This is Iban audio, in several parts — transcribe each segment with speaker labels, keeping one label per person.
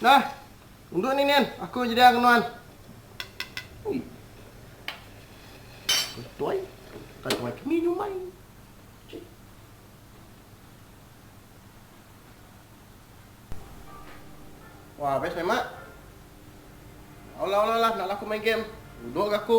Speaker 1: Nah, endu ninin aku nyediaka ke nuan. Ui. Katuai, katuai kini nyumai. Wah, best meh mak. Olah olah olah nak laku main game. Duduk ke aku.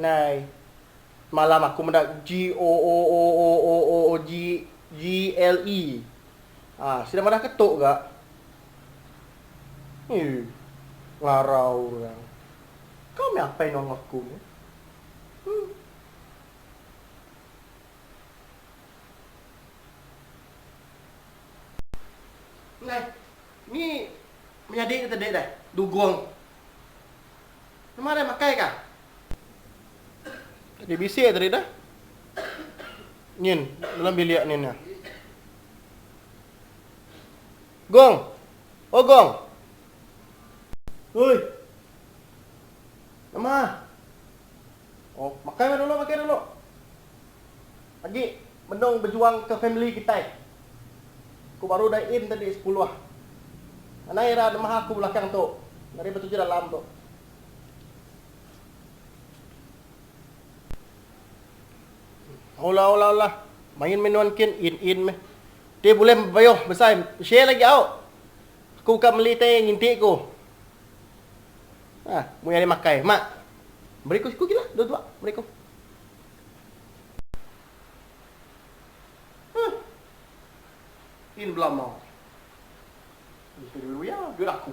Speaker 1: Nai. Semalam aku meda GOOOOOOOGGLE. Ha, sida madah ke tok ga. Ui. Ngarau orang. Kau meh apai nongol aku meh. Hmm. Nai. Ni menyadi ke tadi deh dugong. Numa deh makai kah. Tadi bisi tadi deh. Nyin dalam bilik nyin nya. Gong. Oh gong. Oi. Nama. Oh makai meh dulu makai dulu. Agi menung bejuang ke family kitai. Ku baru dai in tadi sepuluh. Anai ira nemah aku belakang tu dari betujuh dalam tu. Alah alah alah main meh nuan kin in in meh. Ti bulih bebayuh besai share lagi au. Aku ka meli tai nginti ku. Ha, muai ari makai. Mak. Beri ku siku gila dua dua beri ku. Huh. In belama. Ni sudah diberi ya, duit aku.